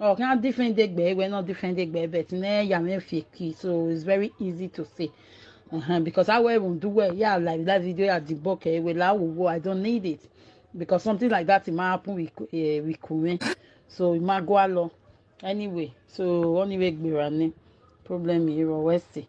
Oh, now different day gbe, we're not different day gbe, but ne yame fiki, so it's very easy to say. Uh-huh, because I will do well, yeah, like that video at the book, eh, well, I will go, I don't need it. Because something like that, it might happen with, uh, with Kume. So it might go along. Anyway, so anyway, gbe rani. Problem here, Westy.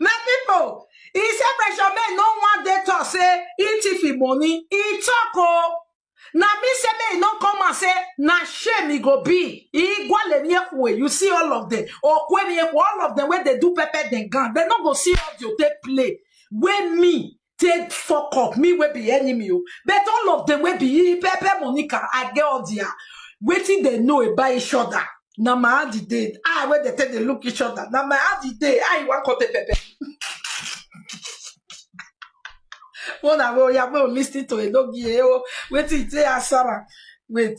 my people he say pressure men no wan dey talk say he thief him money he talk oh na me say make he no come and say na shame he go be he go le mi ekwe you see all of them okwe mi ekwe all of them wey dey do pepper dem gan dem no go see audio take play wey me take fuck up me wey be enemy o but all of them wey be pepe monica i get all their wetin dem know about each other na my hand e dey eye wey dem take dey look each other na my hand e dey how you wan come take pepe one na wey oya wey o lis ten to enogie o wetin you take answer am wait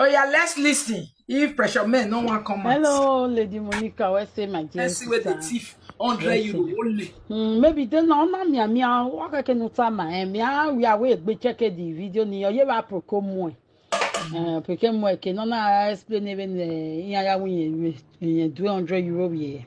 Oh yeah, let's listen. If pressure men no one come Hello, Lady Monica. Where say my dear Let's see where the thief hundred euro only. Mm, maybe then no na mia mia waka ke no tama eh mia we are we gbe check the video ni oye wa proko mo eh. eh proko mo eh, ke no na explain even eh ya ya we yen 200 euro we.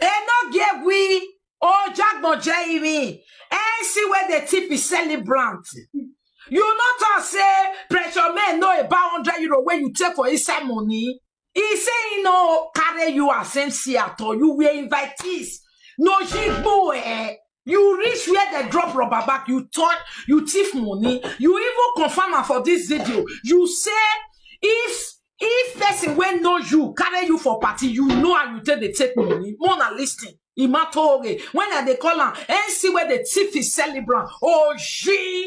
Eno Gegui, Ojagbo Jeremy, NC where the tip is celebrant. You not talk say pressure men know about 100 euro when you take for inside money. He say he no carry you as MC at all. You were invitees. No jigbo eh. you reach where they drop rubber back you turn you thief money you even confirm am for this video you say if if person wey know you carry you for party you know how you take dey take money more na lis ten imatore when i dey call am nc wey dey thief his celebrant oji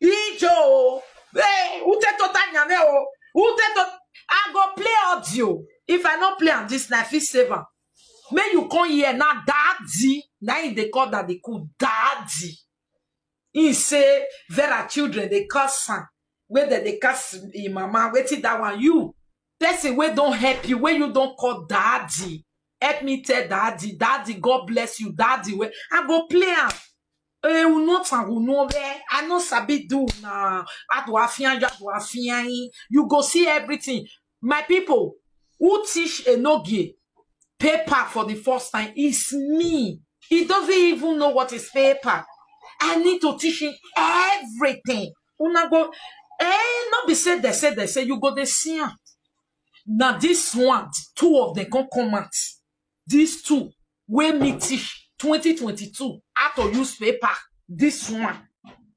ijo o hey ute tota nyame o ute to i go play audio if i no play am this na i fit save am make you come here na daddy na him dey call daddy cool daddy he say vera children dey curse am wey dem dey curse him mama wetin that one you person wey don help you wey you don call daddy help me tell daddy daddy god bless you daddy wey i go play am Eh, u no tan u no be. I no sabi do na. Adu afian you adu afian. You go see everything. My people, who teach Enogie paper for the first time is me. He doesn't even know what is paper. I need to teach him everything. Una go, eh, not be said they say they say you go the see am. Now this one, two of them can come out. These two, wey me teach 2022 how to use paper this one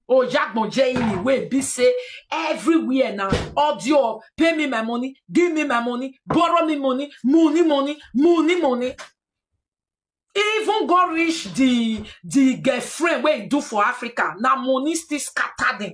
oyagbonje ini wey be say everywhere na audio of pay me my money give me my money borrow me money money money money money even go reach the the girlfriend wey he do for africa na money still scatter them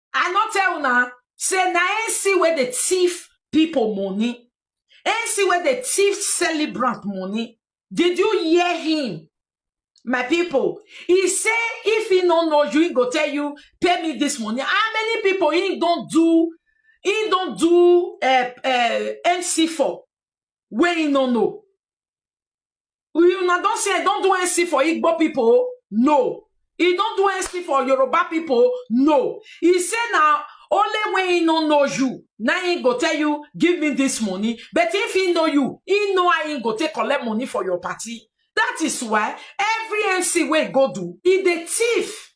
I no tell una say na NC where they thief people money. NC where they thief celebrant money. Did you hear him? My people, he say if he no know you, he go tell you, pay me this money. How many people he don't do, he don't do uh, uh, NC for? Where he no know. You una don say I don do NC for Igbo people? No. He don do NC for Yoruba people? No. He say na only when he no know you, na he go tell you, give me this money. But if he know you, he know how he go take collect money for your party. That is why every NC wey he go do, he dey thief.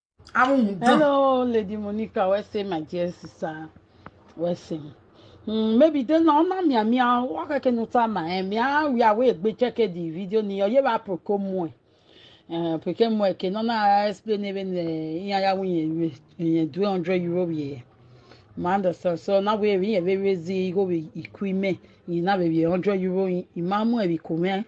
Àwọn dán. Hello, Lady Monica. Where say my dear sister? Where say? Mm, maybe then no na mia mia waka ke no ta ma eh mia we are we gbe check the video ni oye ba proko mu eh eh proko mu eh ke no na explain even eh iya ya win ye ye 200 euro ye ma understand so na we we we we zi go we equipment ni na we 100 euro i ma mu e bi ko me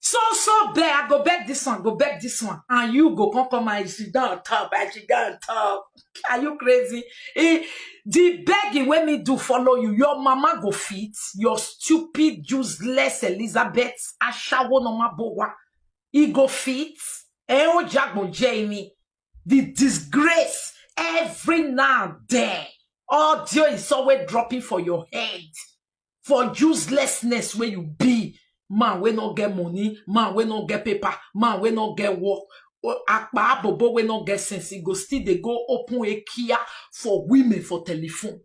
So so beg, I go beg this one, go beg this one, and you go come come and sit down on top, and sit down on top. Are you crazy? Eh, the begging when me do follow you, your mama go fit, your stupid, useless Elizabeth, ashawo no ma bowa, he go fit, eh o jagbo Jamie, the disgrace every now and then, audio is always dropping for your head. for uselessness wey you be man wey no get money man wey no get paper man wey no get work o- akpa abobo wey no get sense e go still dey go open ekia for women for telephone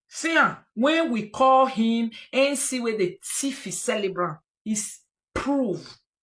see am when we call him nc wey dey thief his celebrant is proof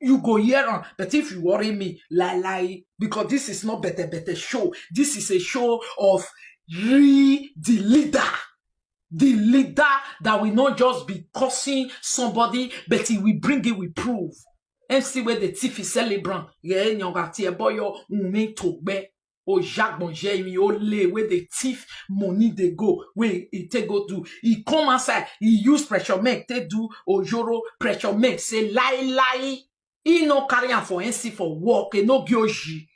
you go hear am but if you worry me lie lie because this is not better better show this is a show of real the leader the leader that will not just be cursing somebody but he will bring it with proof mc wey dey tiff celebrant yẹn ẹni ọba tí ẹ bọyọ wùmí tó gbẹ ojagbonje mi ole wey dey thief money dey go wey e take go do e come outside e use pressure make take do ojoro pressure make say lie lie e no carry am for nc for work e no give oji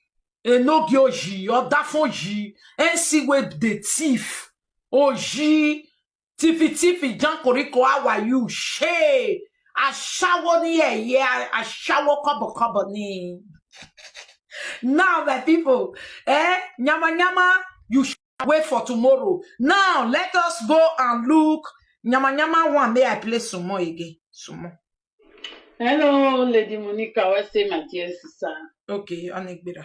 e no give oji odafoji nc wey dey thief oji Tifi tifi jankoriko how are you? She ashawo ni eye ashawo kobo kobo ni. Now my people, eh, nyama nyama, you should wait for tomorrow. Now let us go and look nyama nyama one. May I play some more again? Some more. Hello, Lady Monica. What's say my dear sister? Okay, Anigbira.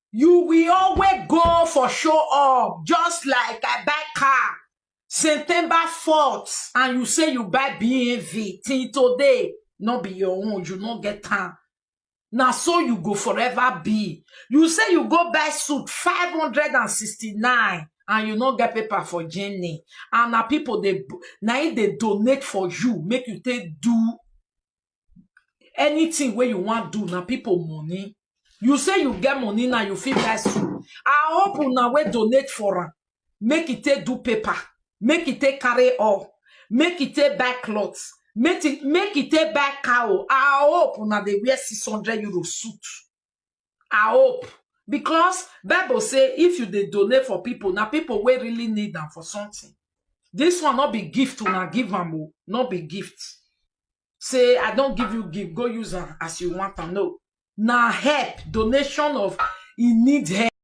You will always go for show off, just like I buy car September 4th, and you say you buy BMV till today, not be your own, you not get time. Now so you go forever be. You say you go buy suit 569 and you not get paper for Jenny. And now people they now they donate for you, make you take do anything wey you wan do na people money you say you get money now you fit buy soup i hope una wey donate for am make e take do paper make e take carry all make e take buy cloth make e make e take buy cow i hope una dey wear six hundred euro suit i hope because bible say if you dey donate for people na people wey really need am for something this one no be gift una give am o no be gift say i don give you gift go use am as you want am no na help donation of e need help